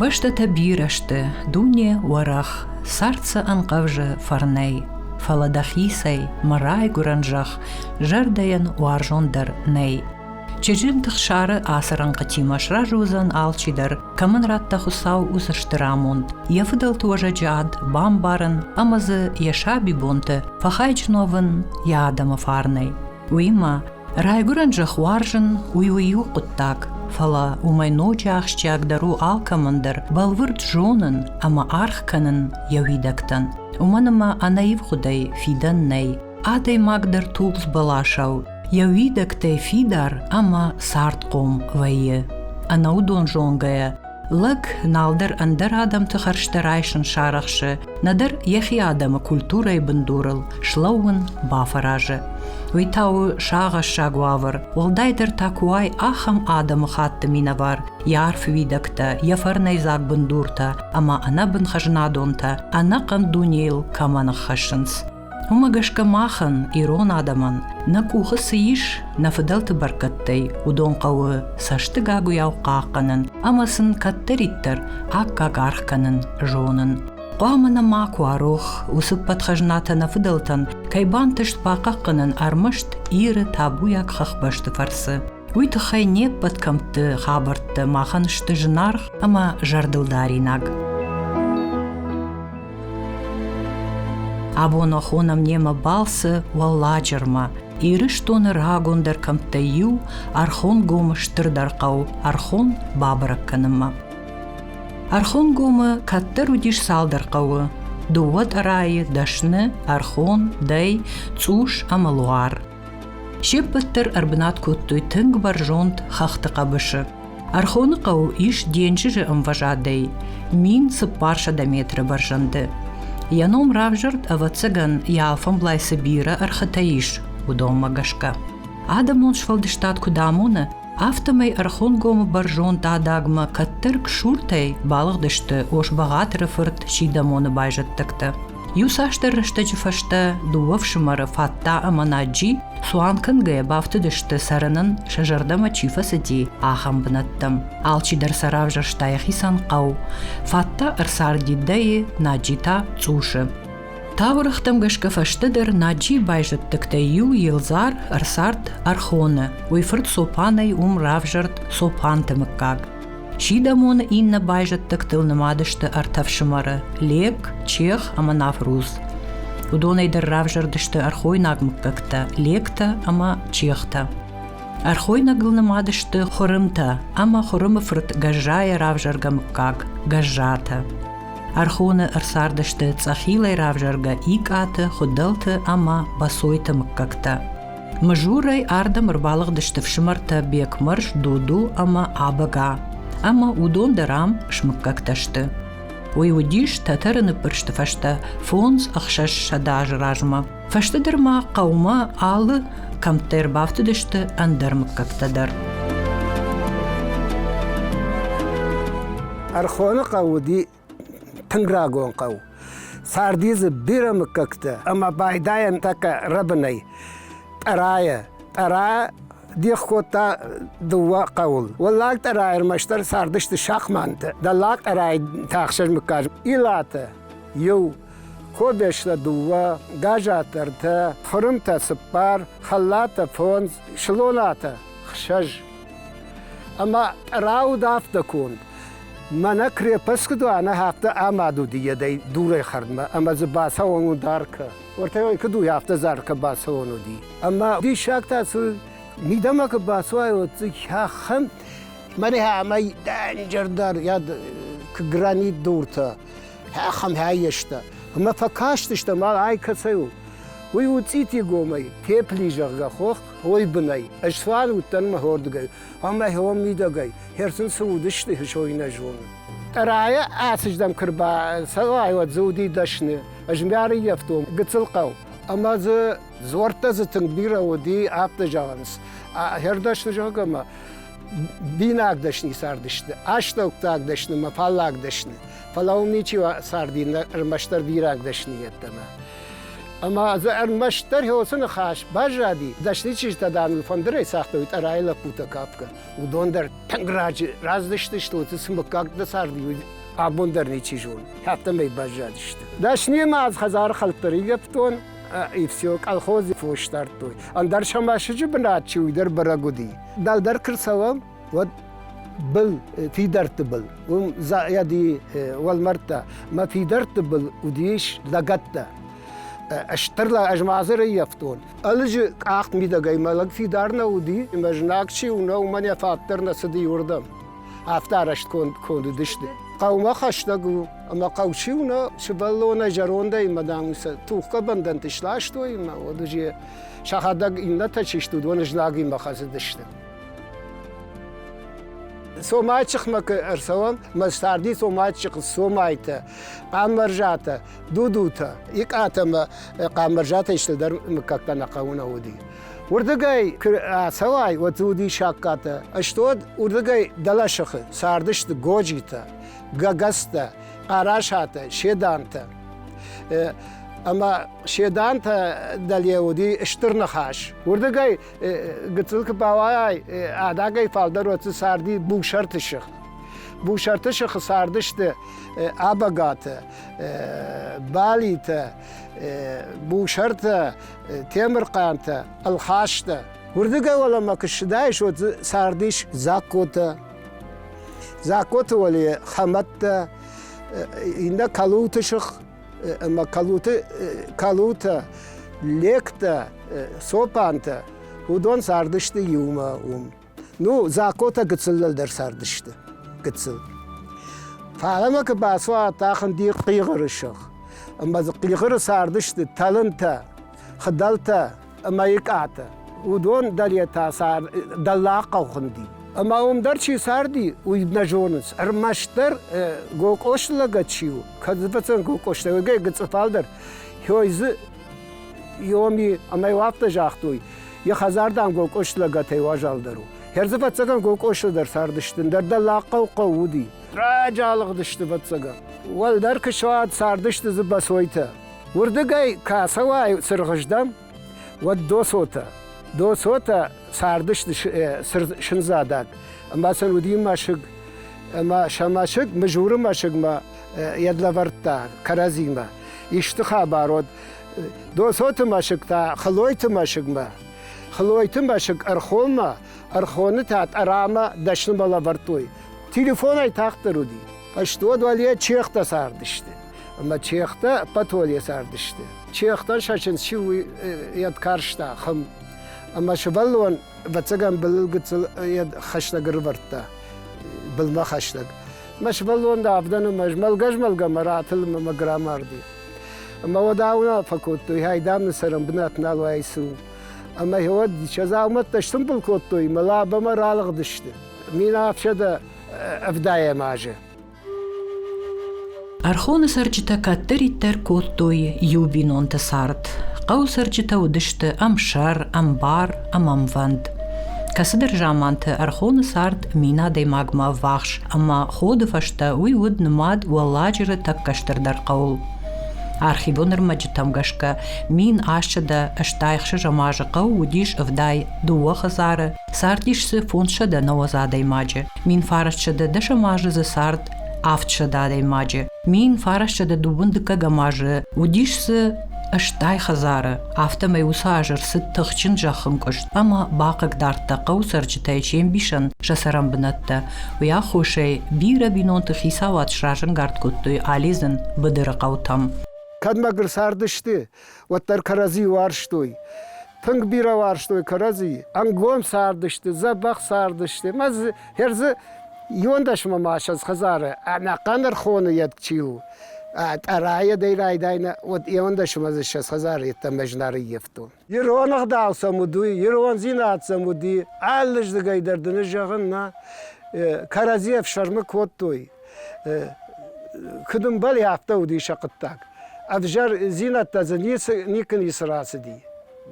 Бӕстӕтӕ бирӕ сты, дуне уӕрӕх, цард сӕ ӕнхъӕвзы фӕрнӕй, фӕлӕ дӕхицӕй, мӕ райгуырӕн зӕхх, зӕрдӕйӕн уарзондӕр нӕй. Чызджыты хсары ацы рӕнхъытимӕ сразы уыдзӕн алчидӕр, кӕмӕн радта Хуыцау уыцы стыр амонд, йӕ фыдӕлты уӕзӕджы ад бамбарын ӕмӕ дзы йӕ сабибонты фӕхайджын уӕвын йӕ адӕмы фарнӕй. Уыимӕ райгуырӕн зӕхх уарзын уый уый у хъуыддаг, фӕлӕ уымӕй ноджы ахсджиагдӕр у алкӕмӕн дӕр бӕлвырд зонын ӕмӕ аргъ кӕнын йӕ уидӕгтӕн. Уымӕн ӕмӕ ӕнаивгъуыдӕй фидӕн нӕй. Адӕймаг дӕр тулдз бӕласау Йӕ уидӕгтӕй фидар ӕмӕ цардхъом вӕййы. Ӕнӕудон зонгӕйӕ лӕг налдӕр ӕндӕр адӕмты хӕрзтӕ райсын сарӕхсы, нӕдӕр йӕхи адӕмы культурӕйы бындурыл слӕууын бафӕразы. Уый та у сагъӕссаг уавӕр, уӕлдайдӕр та куы уай ахӕм адӕмы хатты минӕвар, йӕ арф уидӕгтӕ, йӕ фӕрнӕйдзаг бындуртӕ ӕмӕ ӕнӕбын хӕзнадонтӕ ӕнӕхъӕн дунейыл кӕмӕ ныххӕссынц. Уымӕ гӕсгӕ махӕн, ирон адӕмӕн, нӕ къухы цы ис, нӕ фыдӕлты бӕркӕдтӕй, уыдон хъӕуы цӕстыгагуыйау хъахъхъӕнын ӕмӕ сын кӕддӕриддӕр аккаг аргъ кӕнын зонын. Хъуамӕ нӕ макуы арох уыцы подхӕзнатӕ нӕ фыдӕлтӕн, кӕй бантыст бахъахъхъӕнын ӕрмӕст Иры табуйаг хӕхбӕсты фӕрцы. Уый тыххӕй не ппӕт кӕмтты хабӕрттӕ махӕн сты зынаргъ ӕмӕ зӕрдылдаринаг. Абонахон немӕ балцы Уӕлладжырмӕ, Ирыстоны рагондӕр кӕмттӕй иу, Архонгомы стырдӕр хъӕу Архон бабӕрӕг кӕнынмӕ. Архонгомы кӕддӕр уыдис цалдӕр хъӕуы: дыууӕ тъӕрайы, дӕсны, Архон, Дӕй, Цъус ӕмӕ Луар. Се ппӕт дӕр ӕрбынат кодтой тынг бӕрзонд хӕхты хъӕбысы. Ӕрхоны хъӕу ис денджызы ӕмвӕзадӕй мин цыппар сӕдӕ метры бӕрзӕнды. Йӕ ном равзӕрд, ӕвӕццӕгӕн, йӕ алфӕмблайцы бирӕ ӕрхытӕ ис, уыдонмӕ гӕсгӕ. Адӕмон сфӕлдыстад куыд амоны, афтӕмӕй Ӕрхонгомы бӕрзонд адагмӕ кӕддӕр Ксуртӕй балыгъдысты Ос-Бӕгъатыры фырт Сидӕмоны байзӕддӕгтӕ. Иуцасдӕр рӕстӕджы фӕстӕ дыууӕ фсымӕры Фатта ӕмӕ Наджи цуан кӕнгӕйӕ бафтыдысты, цӕрынӕн сӕ зӕрдӕмӕ чи фӕцыди, ахӕм бынӕттӕм. Алчидӕр сӕ равзӕрста йӕхицӕн хъӕу. Фатта ӕрцарди Дӕйы, Наджи та Цъусы. Таурӕгътӕм гӕсгӕ фӕстӕдӕр Наджийы байзӕддӕгтӕй иу, Елзар, ӕрцард Архоны. Уый фырт Цопанӕй уым равзӕрд Цопанты мыггаг. Сидӕмоны иннӕ байзӕддӕгтыл нымад сты ӕртӕ фсымӕры Лек, Чех ӕмӕ Навруз. Уыдонӕй дӕр равзӕрдысты ӕрхойнаг мыггӕгтӕ Лектӕ ӕмӕ Чехтӕ. Ӕрхойнагыл нымад сты Хуырымтӕ ӕмӕ Хуырымы фырт Гӕззайӕ равзӕргӕ мыггаг Гӕззатӕ. Ӕрхоны ӕрцардысты Цъӕхилӕй равзӕргӕ Икъаты, Хуыдӕлты ӕмӕ Босойты мыггӕгтӕ. Мыжурӕй ардӕм ӕрбалыгъдысты фсымӕртӕ Бекмӕрз, Дуду ӕмӕ Абӕга. Ӕмӕ уыдон дӕр ам смыггӕгтӕ сты. Уый уыдис тӕтӕры ныппырсты фӕстӕ фондз ӕхсӕзсӕдӕ азы размӕ. Фӕстӕдӕр ма хъӕумӕ алы кӕмттӕ ӕрбафтыдысты ӕндӕр мыггӕгтӕ дӕр. Ӕрхоны хъӕу уыди Тынг рагон хъӕу. Царди дзы бирӕ мыггӕгтӕ ӕмӕ байдайӕн тӕккӕ рӕбынӕй. Тъӕрайӕ. Тъӕра дих кодта дыууӕ хъӕуыл. Уӕллаг тъӕрайы ӕрмӕстдӕр цардысты шахмантӕ. Дӕллаг тъӕрайы та ӕхсӕз мыггаг Илатӕ иу, Кобестӕ дыууӕ, Гӕзатӕ ӕртӕ, Хъырымтӕ цыппар, Хӕллатӕ фондз, Слонатӕ хсӕз. Ӕмӕ тъӕра уыд афтӕ конд. Мӕнӕ крепосткы дуаны хӕхтӕ амадуди едӕй дурӕй хӕрдмӕ, ӕма дзы бацӕуӕн у даркӕ. Уӕртӕ куы дуй, афтӕ заркӕ бацӕуӕн уыди. Ӕмӕ диссаг та цы мидӕмӕ куы бацуай, уӕд дзы хӕххӕм мӕнӕ ӕмӕ дӕнджӕрдӕр куы гранит дуртӕ хӕххӕм хаййӕста. Ӕмӕ фӕкастыстӕм, ай кӕцӕй у. Уый у цъитигомӕй, тепли, зӕгъгӕ, хох, ой бынӕй. Ӕз цуан уыдтӕн мӕ хордыгӕй. Ам ӕхеуон мидӕгӕй, херцын цы уыдысты, хысой нӕ зоны. Тъӕрайӕ ацыздӕм куы рбацӕуай, уӕд дзы уыди дӕсны. Ӕз мӕрыййӕфтон гыццыл хъӕу. Ӕмӕ дзы дзуӕрттӕ дзы тынг бирӕ уыди, афтӕ зӕгъынц. Хӕрдӕсты зӕгъгӕ мӕ бинаг дӕсны цардысты, астӕуктаг дӕсны мӕ фаллаг дӕсны. Фӕлӕ уым ничи царди, ӕрмӕстдӕр бираг дӕсны йеддӕмӕ. Ӕма дзы ӕрмӕстдӕр хеуцы ныхас баззади, дӕсны чызджытӕ, дам, ыл фӕндырӕй цагътой тъӕрайы лӕппутӕ капгӕ. Уыдон дӕр тынг раджы раздысты столты, цы мыггаг дӕ царди, уый абон дӕр ничи зоны. Хаттамӕй баззадысты. Дӕснимӕ ӕз хӕдзары хӕлттӕ рилӕфтон, и все, колхози фос дардтой. Ӕндӕр сӕ мӕсыджы бынат чи уый дӕр бӕрӕг уыди. Дӕлдӕр куы рцӕуӕм, уӕд был фидӕртты был уым зайади уӕлмӕрдтӕ мӕ фидӕртты был уыдис лӕгӕттӕ стыр ӕзмазыр ӕййӕфтон ӕлыджы къахт мидӕгӕй мӕ лӕг фидар нӕ уыди мӕ знаг чи у нӕ уымӕн йӕ фӕд дӕр нӕ цыди уырдӕм афтӕ арӕзт кондыдысты хъӕумӕ хӕстӕг у ӕмӕ хъӕу чи у нӕ сывӕллонӕй зӕрондӕй мӕ дам тухгӕ бӕндӕнты сластой мӕ уӕд сӕхӕдӕг иннӕтӕ чи сты уыдон знагимӕ хӕцыдысты Сомайчихмӕ ку ӕрцӕуӕн, мӕ царди сомайчихъ сомайтӕ, къаммӕрзатӕ, дудутӕ, икъатӕмӕ къаммӕрзатӕй стӕдӕр мыггагтӕ нӕ хъӕуы нӕ уыди. Уырдыгӕй куы ацӕуай, уӕд дзы уыди саккатӕ. Стод уырдыгӕй дӕлӕсыхы цардысты годжитӕ, гагӕзтӕ, хъарасатӕ, седантӕ. Ӕмӕ седантӕ дӕле уыди стыр ныхас. Уырдыгӕй гыццыл куы бауайай, адагӕй фалдӕр уӕцы царди бусарты сых. Бусарты сыхы цардысты абагаты, балитӕ, бусартӕ, темырхъантӕ, ӕлхастӕ. Уырдыгӕй уӕлӕмӕ куы ссыдаис, уӕд цардис Дзагкотӕ. Дзагкоты уӕле Хӕмӕттӕ, иннӕ Калуты сых ӕма калуты, калутӕ, лектӕ, цопантӕ, уыдон цардысты иумӕ уым. Ну, закъотӕ гыццылыл дӕр цардысты. Гыццыл. Фӕлӕ куы бацуат ахын ди хъигъыры сых. Ӕмӕ хъигъыры цардысты тӕлынтӕ, хыдӕлтӕ, мӕйкъаты. Уыдон дӕр йе та сӕ дӕллаг хъӕу хуынди. Ӕмӕ уым дӕр чи царди, уый нӕ зонынц. Ӕрмӕстдӕр Гокъосы лӕгӕт чи у, кӕд фӕцӕн Гокъосы лӕг, ӕгӕр гыцъыфал дӕр, хой дзы Йоми ӕмӕ йыл афтӕ загътой, йӕ хӕдзар, дам, Гокъосы лӕгӕтӕй уазалдӕр у. Хӕрзы фӕццӕгӕн Гокъосыл дӕр цардысты, дӕр дӕллагхъӕу хъӕу уыди. Раджы алыгъдысты фӕццӕгӕн. Уӕлдӕр куы суад, цардысты дзы Босойтӕ. Уырдыгӕй кӕцӕуай цыргъыздӕм, уӕд досотӕ. Досотӕ цардысты сындзадаг, ӕмӕ сын уыди мӕсыг. Ӕмӕ сӕ мӕсыг Мызуры мӕсыгмӕ йӕд лӕвӕрдта кӕрӕдзимӕ. Исты хабар уӕд Досоты мӕсыг та Хлойты мӕсыгмӕ. Хлойты мӕсыг Ӕрхонмӕ, Ӕрхоны та Тъӕрамӕ дӕснымӕ лӕвӕрдтой. Телефонӕй тагъддӕр уыди. Ӕсты уӕд уӕле чехтӕ цардысты. Ӕмӕ чехтӕ ӕппӕтуӕле цардысты. Чехтӕ сӕчынц чи у, йӕд карста хым. Ӕмӕ сывӕллон, ӕвӕццӕгӕн, былыл гыццыл йӕ хӕстӕг ӕрывӕрдта, былмӕ хӕстӕг. Мӕ сывӕллон дӕ авдӕны мӕ змӕлгӕ-змӕлгӕмӕ ратылын мӕ граммарды. Ӕмӕ уӕд ауна фӕкодтой, ай дам нын цӕрӕн бынат нал уаид сын. Ӕмӕ уӕд сӕ дзаумӕттӕ сымбыл кодтой, мӕ лабӕмӕ ралыгъдысты. Мин ӕфсӕдӕ ӕвдайӕм азы. Ӕрхоны цӕрджытӕ кӕддӕриддӕр кодтой иу бинонты цард. Хъӕуы цӕрджытӕ уыдысты ӕмсӕр, ӕмбар ӕмӕ ӕмвӕнд. Кӕцыдӕр заманты ӕрхоны цард мин адӕймагмӕ ӕввахс, ӕмӕ ходы фӕстӕ уый уыд нымад Уӕлладжыры тӕккӕ стырдӕр хъӕуыл. Архивон ӕрмӕджытӕм гӕсгӕ мин асчъыдӕ стайхсы зымӕджы хъӕу уыдис ӕвдай дыууӕ хӕдзары, цардис дзы фондзсӕдӕ нӕуӕдз адӕймаджы. Мин фарасчӕдӕ дӕсӕм азы дзы цард авд сӕдӕ адӕймаджы. Мин фарасчӕдӕ дыууын дыккӕгӕм азы уыдис дзы стӕй хӕдзары, афтӕмӕй уыцы аз ӕрцыд тыхджын зӕххынкъуыст ӕмӕ бахъыг дардта хъӕуы цӕрджытӕй се мбисӕн сӕ цӕрӕнбынӕттӕ. Уый аххосӕй бирӕ бинонты хицауад сразӕнгард кодтой алидзын быдыры хъӕутӕм. Кӕдмӕ гуыр цардысты, уӕддӕр кӕрӕдзи уарзтой. Тынг бирӕ уарзтой кӕрӕдзи. Ӕнгом цардысты, дзӕбӕх цардысты. Мӕ дзы хӕр дзы иуон дӕсмӕ ма ссӕдз хӕдзары ӕнӕхъӕн ӕрхоны йед чи у. Тъӕрайӕдӕй райдайна, уӕд иуон дӕсмӕ дзы ссӕдз хӕдзары йеддӕмӕ знарыййӕфтон. Ирон ӕгъдау сӕм уыд, уый ирондзинад сӕм уыди. Алы здыгӕй дӕр дын ӕз зӕгъын, нӕ кӕрӕдзи ӕфсӕрмы кодтой. Куыд ӕмбӕлы, афтӕ уыди сӕ хъуыддаг. Ӕвзӕр дзинӕдтӕ дзы никуы ницы рацыди.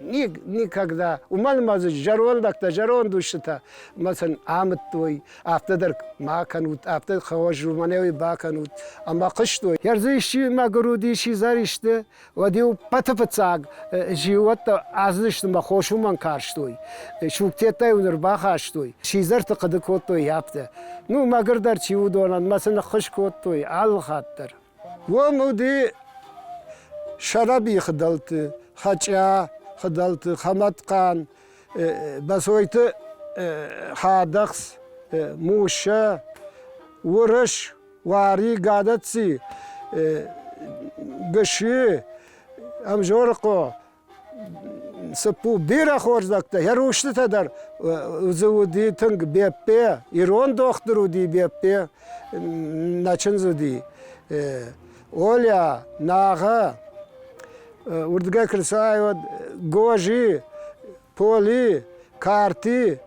Никогда. Уымӕн ма дзы зӕрондӕгтӕ, зӕронд устытӕ ма сын амыдтой, афтӕ дӕр ма кӕнут, афтӕ хорз уымӕн бакӕнут. Ӕмӕ хъуыстой. Ӕрдзы исчи мӕгуыр уыди, сидзӕр исты, Уӕд-иу ппӕты фыццаг зиууӕттӕ аздысты мӕ хос уымӕн карстой. Сугтеттӕ-иу ныр бахастой, сидзӕрты хъуыды кодтой йӕпты. Ну, мӕгуырдӕр чи уыдонӕн мӕ сын ӕххуыс кодтой алы хатт дӕр. Уым уыди сӕрӕбийы хыдӕлты, Хӕчъа, Хыдӕлты Хӕмӕтхъан, Бӕсойты Хадӕхц, Муссӕ, Уырыс, Уари Гадаци, Гыщи, Ӕмзорыхъо, цыппу бирӕ хорздӕхтӕ, йӕ рустытӕ дӕр дзы уыди тынг Беппе, ирон дохтыр уыди Беппе, нӕ чындз уыди. Оля, Нагъа, уырдыгӕй куы нцайуад, Гожи, поли, кӕрти.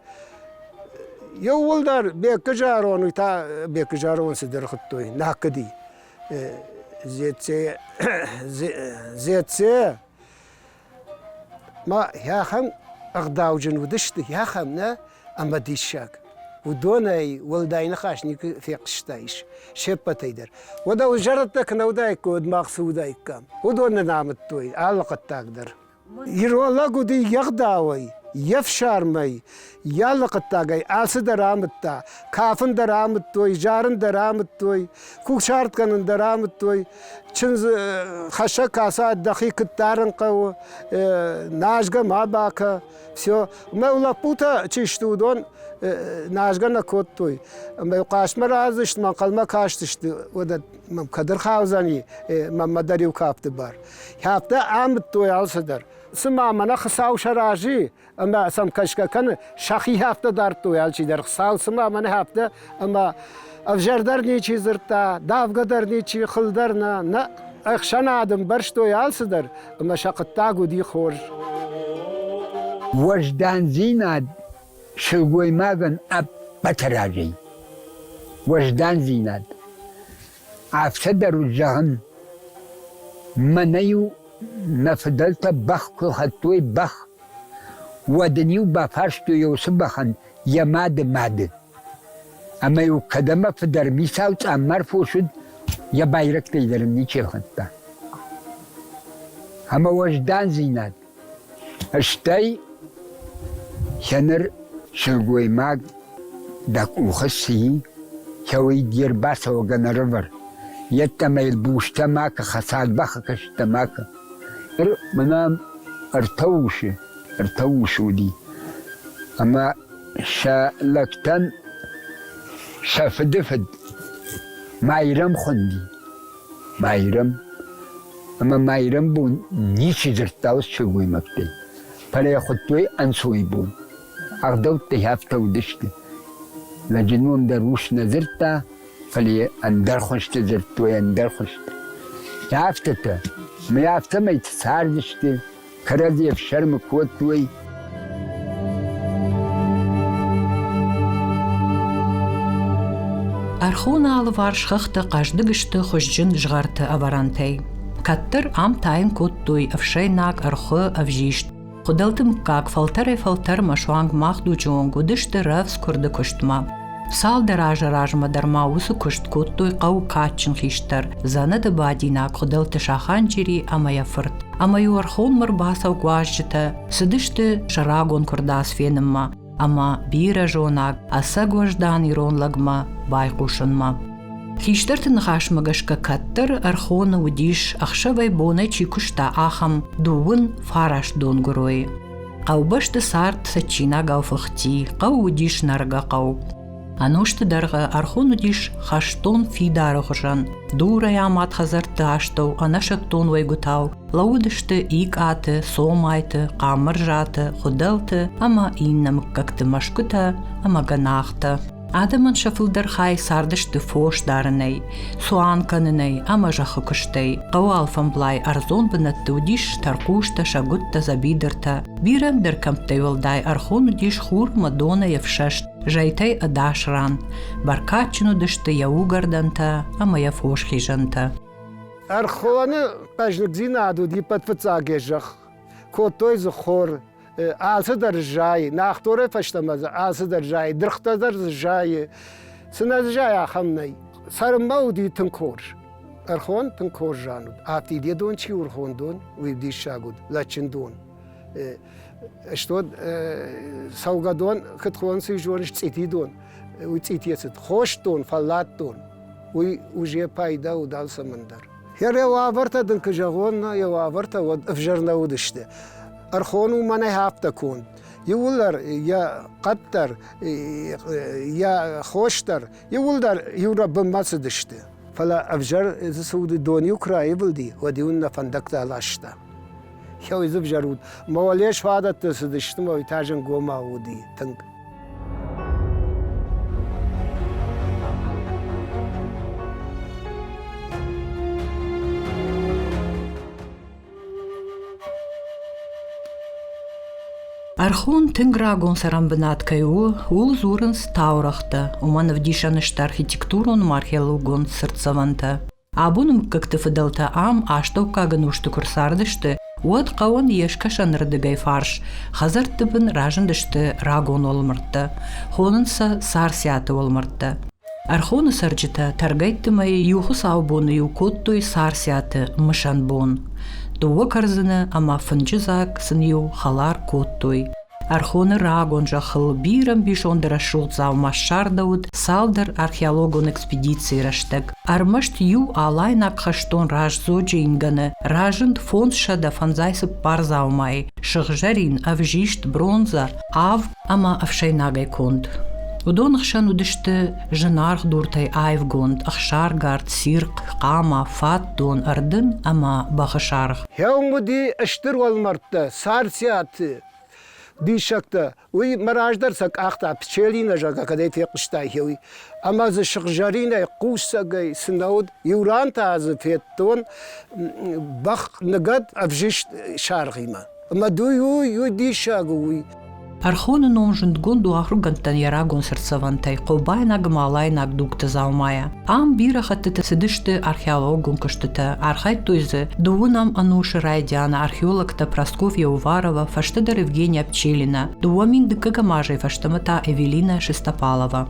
Еууылдӕр Беккы зӕронд уый та Беккы зӕронд цыдӕр хуыдтой накыди. Зеце, Зеце. Ма хӕхӕн ӕгъдауджын уыдысты, хӕхӕн нӕ ӕмӕ диссаг. Уыдонӕй уӕлдай ныхас никуы фехъуыстаис се ппӕтӕй дӕр. Уӕдӕ уый зӕрӕдтӕ куы нӕ уыдаиккой, уӕд мах цы уыдаиккам? Уыдон нӕ намыдтой алы хъуыддаг дӕр. Иролог уыди йе гъдауӕй, йе фсармӕй, йӕ алы хъуыддагӕй алцы дӕр амыдта. Кафын дӕр амыдтой, зарын дӕр амыдтой, кусарт кӕнын дӕр амыдтой. Чындзы хӕссӕг кӕсӕд дӕхи куыд дарын хъӕуы, назгӕ ма бакӕ. Все. Ӕмӕ лӕппутӕ чи сты, уыдон назгӕ нӕ кодтой. Ӕмӕ хъастмӕ разысты, ӕнхъӕлмӕ кастысты уыдӕттӕ. кӕд ӕрхаудзӕни мӕмӕ дӕр иу кафты бар. Кӕфтӕ амыдтой алцыдӕр. Цыма мӕнӕ Хуыцау сӕ разы ӕмӕ сӕм кӕсгӕ кӕны, сӕхи хӕфтӕ дардтой алчидӕр. Хуыцау цыма мӕнӕ хӕфтӕ ӕмӕ ӕвзӕр дӕр ничи дзырдта, давгӕ дӕр ничи, хыл дӕр нӕ, нӕ ӕхсӕнад ӕмбӕрстой алцыдӕр, ӕмӕ сӕ хъуыддаг уыди хорз. Уӕздандзинад Сылгоймагӕн ӕппӕты разӕй уӕздандзинад. Афтӕ дӕр у зӕгъын, мӕнӕ-иу мӕ фыдӕлтӕ бӕх куы хӕдтой бӕх, уӕд ын-иу бафарстой уыцы бӕхӕн йӕ мады мады. Ӕмӕ-иу кӕд ӕмӕ фыдӕр мисал цъаммар фос уыд, йӕ байрӕгтӕй дӕр ын ничи хӕтта. Ӕмӕ уӕздандзинад Стӕй сӕ ныр сылгоймаг дӕ къухы цы и, кӕуый де рбацӕугӕ нӕрывӕр, йеддӕмӕ йыл бустӕ макӕ, хӕцаг бӕхы кӕсттӕ макӕ. Ныр мӕнӕм ӕртӕ усы, ӕртӕ усы уыди. Ӕмӕ сӕ лӕгтӕн сӕ фыды фыд Майрӕм хуынди. Майрӕм ӕма майрӕмбон ничи дзурдта ус сылгоймӕгтӕй, фӕлӕ йӕ хуыдтой ӕнцойбон. Ӕгъдӕуттӕй афтӕ уыдысты. Лӕджы ном дӕр ус нӕ дзырдта, фӕлӕ йӕ ӕндӕр хуызты дзырдтой ӕндӕр хуызты. Афтӕтӕ. Мӕ афтӕмӕй цардысты, кӕрӕдзи ӕфсӕрмы кодтой. Ӕрхоны алыварс хӕхтӕ хъӕздыг сты хуызджын згъӕрты ӕвӕрӕнтӕй. Кӕддӕр ам тайын кодтой ӕфсӕйнаг ӕрхуы ӕвзист. Хуыдӕлты мыггаг фӕлтӕрӕй-фӕлтӕрмӕ суанг мах дуджы онг уыдысты рӕвдз куырды куыстмӕ. Цалдӕр азы размӕ дӕр ма уыцы куыст кодтой хъӕуы кадджын хистӕр, дзӕнӕты бадинаг Хуыдӕлты Саханчери ӕмӕ йӕ фырт. Ӕмӕ-иу ӕрхонмӕ ӕрбацӕуг уазджытӕ цыдысты сӕ рагон куырдас фенынмӕ ӕмӕ бирӕ зонаг ӕцӕг уӕздан ирон лӕгмӕ байхъусынмӕ. Хистӕрты ныхасмӕ гӕсгӕ кӕддӕр Ӕрхоны уыдис, ӕхсӕвӕй-бонӕй чи куыста, ахӕм дыууын фараст донгуыройы. Хъӕубӕсты цард цӕджджинагау фыхти, хъӕу уыдис нӕргӕ хъӕу. Ӕнусты дӕргъы ӕрхон уыдис хӕстон фидары хуызӕн. Дурӕй амад хӕдзӕртты астӕу ӕнӕсӕттон уӕйгуытау лӕууыдысты икъаты, цомайты, хъамырзӕты, хуыдӕлты ӕмӕ иннӕ мыггӕгты мӕсгуытӕ ӕмӕ гӕнахтӕ. Адӕмӕн сӕ фылдӕр хай цардысты фос дарынӕй, цуан кӕнынӕй ӕмӕ зӕххы куыстӕй. Хъӕуы алфӕмблай ӕрдзон бынӕтты уыдис тӕрхъустӕ, сӕгуыттӕ, дзӕбидыртӕ. Бирӕ ӕндӕр кӕмттӕй уӕлдай ӕрхон уыдис хурмӕ, донӕй ӕфсӕст, зӕйтӕй ӕдас ран. Бӕркадджын уыдысты йӕ угӕрдӕнтӕ ӕмӕ йӕ фосхизӕнтӕ. Ӕрхоны хъӕздыгдзинад уыд иппӕт фыццаг йӕ зӕхх. Кодтой дзы хор, Алцыдӕр зайы, Нахторӕй фӕстӕмӕ дзы алцыдӕр зайы, дыргътӕ дӕр дзы зайы. Цы нӕ зайы, ахӕм нӕй. Цӕрынмӕ уыди тынг хорз. Ӕрхон тынг хорз зан уыд. Ӕфтид йӕ дон чи урхон дон, уый диссаг уыд, лӕджджын дон. Стод цӕугӕдон, куыд хон цы зоныс, цъити дон. Уый цъитийӕ цыд. Хост дон, фӕллад дон. Уый уже пайда уыд алцӕмӕн дӕр. Йӕ уавӕртӕ дын куы зӕгъон, йӕ уавӕртӕ уӕд ӕвзӕр нӕ уыдысты. Ӕрхон у мӕнӕй афтӕ конд. Иууылдӕр йӕ хъӕддӕр, йӕ хосдӕр, иууылдӕр иурӕ бынмӕ цыдысты. Фӕлӕ ӕвзӕр цы уыди дон иу куы раивылди, уӕд иу нӕ фӕндӕгтӕ ласта. Хеуидзыг зӕруд. Мӕ уӕле сфадӕттӕ цыдысты, мӕ уый та зӕнгомау уыди тынг. Ӕрхон тынг рагон цӕрӕнбынат кӕй у, ууыл дзурынц таурӕгътӕ, уымӕн ӕвдисӕн сты архитектурон ӕмӕ археологон цыртдзӕвӕнтӕ. Абоны мыггӕгты фыдӕлтӕ ам астӕуккаг ӕнусты куы рцардысты, уӕд хъӕуӕн йе скӕсӕнырдыгӕй фарс, хӕдзӕртты бын разындысты рагон уӕлмӕрдтӕ, хонынц сӕ Царциаты уӕлмӕрдтӕ. Ӕрхоны цӕрджытӕ тӕргӕйтты мӕй иу хуыцаубоны-иу кодтой Царциаты мысӕн бон. Дыууӕ кӕрдзыны ӕмӕ фынджы дзаг сын-иу хӕлар кодтой. Ӕрхоны рагон зӕххыл бирӕ ӕмбисонд рӕсугъд дзаума ссардӕуыд цалдӕр археологон экспедицийы рӕстӕг. Ӕрмӕст иу алайнаг хӕстон раздзоджы ингӕны разынд фондзсӕдӕ фӕндзай цыппар дзаумайы, сыгъзӕрин, ӕвзист, бронзӕ, ав ӕмӕ ӕфсӕйнагӕй конд. Уыдон хсӕн уыдысты зынаргъ дуртӕй аивгонд ӕхсаргард, цирхъ, хъама, фатдон, ӕрдын ӕмӕ бӕхы саргъ. Хъӕум уыди стыр уӕлмӕрдтӕ, царциаты диссӕгтӕ. Уый мӕ раздӕр сӕ къахта, пчелинӕ, зӕгъгӕ, кӕдӕй фехъуыстайы, уый. Ӕмӕ дзы сыгъзӕринӕй, хъусӕгӕй цы нӕ уыд. Иу ран та дзы федтон бӕх ныгӕд ӕвзист саргъимӕ. Ӕмӕ уый у, уый диссаг у, уый. Пархоны ном зындгонд у ахуыргӕндтӕн йӕ рагон сӕрцӕвӕнтӕй хъобайнаг ӕмӕ алайнаг дугты дзаумайӕ. Ам бирӕ хӕттыты цыдысты археологон куыстытӕ. Архайдтой дзы дыууынӕм ӕнусы райдианы археологтӕ Просков Еуварова, фӕстӕдӕр Евгения Пчелина, дыууӕ мин дыккӕгӕм азӕй фӕстӕмӕ та Эвелина Шестопалова.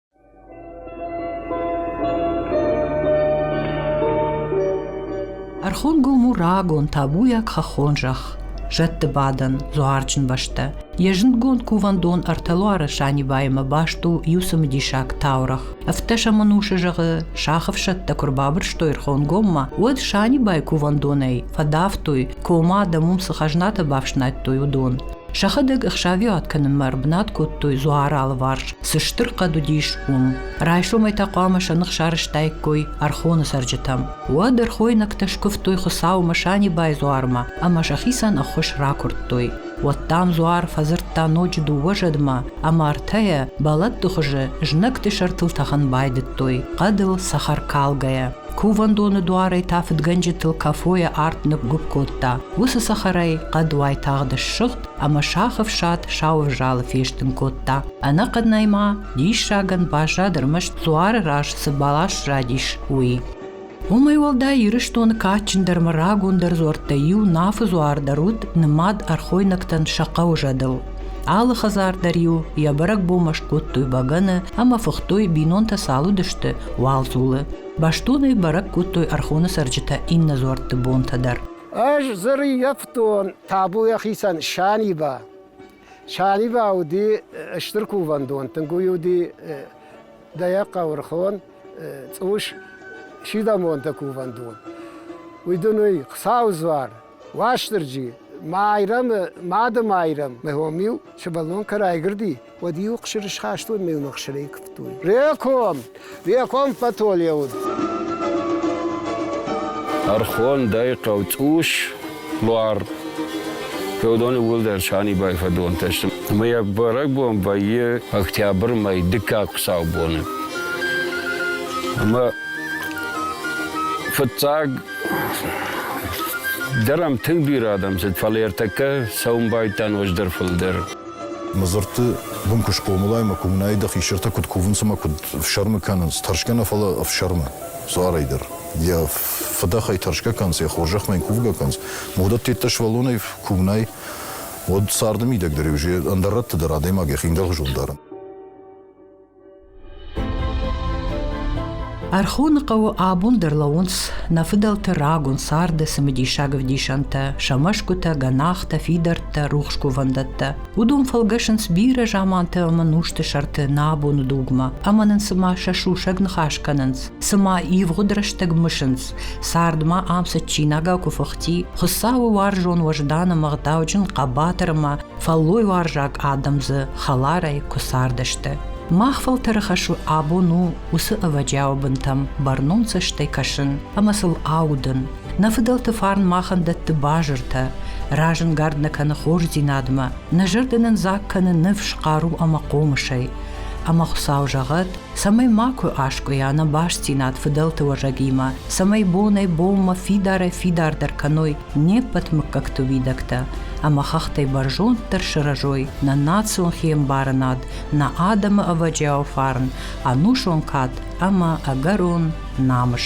Ӕрхонгому рагон табуйаг хӕххон зӕхх, зӕдты бадӕн, дзуарджын бӕстӕ. Йӕ зындгонд кувӕндон ӕртӕлуары Санибайымӕ баст у иу цымыдисаг таурӕгъ. Ӕфтдӕсӕмӕнусы зӕгъы, сахы ӕфсӕдтӕ куы рбабырстой Рхонгоммӕ, уӕд Санибайы кувӕндонӕй фӕдавтой, кома адӕм уым цы хӕзнатӕ бафснайдтой, уыдон. Сӕхӕдӕг ӕхсӕвиуат кӕнынмӕ ӕрбынат кодтой дзуары алыварс, цы стыр хъӕд уыдис, уым. Райсомӕй та хъуамӕ сӕ ных сарӕзтаиккой ӕрхоны цӕрджытӕм. Уӕд ӕрхойнӕгтӕ скуывтой Хуыцауы Масанибай дзуармӕ ӕмӕ сӕхицӕн ӕххуыс ракуырдтой. Уӕд дам дзуар фӕдзырдта ноджы дыууӕ зӕдмӕ, ӕмӕ ӕртӕйӕ, бӕлӕтты хуызы, знӕгты сӕртыл тӕхын байдыдтой, хъӕдыл цӕхӕркалгӕйӕ. Кувӕндоны дуарӕй та фыдгӕнджытыл кӕфойӕ арт ныггуыпп кодта. Уыцы цӕхӕрӕй хъӕд уайтагъд ссыгъд ӕмӕ сахы фсад сау ӕвзалы фестын кодта. Ӕнӕхъӕнӕй ма диссагӕн баззад ӕрмӕст дзуары раз цы бӕлас задис, уый. Уымӕй уӕлдай Ирыстоны кадджындӕрмӕ рагондӕр дзуӕрттӕй иу Нафы дзуар дӕр уыд нымад ӕрхойнӕгтӕн сӕ хъӕу зӕдыл. Алы хӕдзар дӕр-иу йӕ бӕрӕгбонмӕ скодтой бӕгӕны ӕмӕ фыхтой, бинонтӕ цал уыдысты, уал дзулы. Бӕстонӕй бӕрӕг кодтой ӕрхоны цӕрджытӕ иннӕ дзуӕртты бонтӕ дӕр. Ӕз зырйӕфтон табу йӕхицӕн Саниба. Саниба уыди стыр кувӕндон, тынг уый уыди дӕ хъаурхон, цъус сидӕмонты кувӕндон. Уый дын уый Хуыцауы дзуар. Уастырджи, Майрӕмы Мады Майрӕм, мӕ хом-иу сывӕллон кӕ райгырди, уӕд-иу хсырысхастон ме уыны хсырӕй куывтой. Реком! Реком Патоле уыд. Ӕрхон дӕй хъӕуцъус, луар. Феодони уӕлдӕр Санибай фӕдонтӕ сты. Мыййаг бӕрӕгбон вӕййы октябры мӕй дыккаг хуыцаубоны. Ӕмӕ фыццаг Дӕр ам тынг бирӕ адӕм цыд, фӕлӕ ӕртӕккӕ цӕуын байдтам ноджыдӕр фылдӕр. Мадзырдты бын куы схъомылай мӕ, куы уынай, дӕ хистӕртӕ куыд кувынц ӕмӕ куыд ӕфсӕрмы кӕнынц, тӕрсгӕ нӕ, фӕлӕ ӕфсӕрмы дзуарӕй дӕр. Йӕ фыдӕхӕй тӕрсгӕ кӕнынц, йӕ хорзӕхмӕ йын кувгӕ кӕнынц. Уыдӕттӕ сывӕллонӕй куы уынай, уӕд царды мидӕг дӕр иу ӕндӕр рӕтты дӕр адӕймаг йӕхи ӕндӕрхуызон дары. Ӕрхоны хъӕуы абон дӕр лӕууынц нӕ фыдӕлты рагон царды цымыдисаг ӕвдисӕнтӕ, сӕ мӕсгуытӕ, гӕнахтӕ, фидӕрттӕ, рухс кувӕндӕттӕ. Уыдон фӕлгӕсынц бирӕ заманты ӕмӕ нусты сӕрты нӕ абоны дугмӕ, ӕмӕ нын цыма сӕ сусӕг ныхас кӕнынц, цыма ивгъуыд рӕстӕг мысынц, цардмӕ ам цытджинагау куы фыхти, Хуыцауы уарзон уӕздан ӕмӕ гъдауджын хъӕбатырмӕ Фӕллойуарзаг адӕм дзы хӕларӕй куы цардысты. Мах фӕлтӕры хӕс абон у уыцы ӕвӕджиауы бынтӕм бӕрнон цӕстӕй кӕсын ӕмӕ сыл аудын. Нӕ фыдӕлты фарн махӕн дӕтты базыртӕ, разӕнгард нӕ кӕны хорздзинадмӕ, нӕ зӕрдӕ нын дзаг кӕны ныфс, хъару ӕмӕ хъомысӕй. Ӕмӕ Хуыцау зӕгъӕд, цӕмӕй макуы аскъуыйа нӕ бастдзинад фыдӕлты уӕзӕгимӕ, цӕмӕй бонӕй-бонмӕ фидарӕй-фидардӕр кӕной Не ппӕт мыггӕгты уидӕгтӕ ӕмӕ хӕхтӕй бӕрзонддӕр сырӕзой нӕ национ хиӕмбарынад, нӕ адӕмы ӕвӕджиау фарн, ӕнусон кад ӕмӕ ӕгӕрон намыс.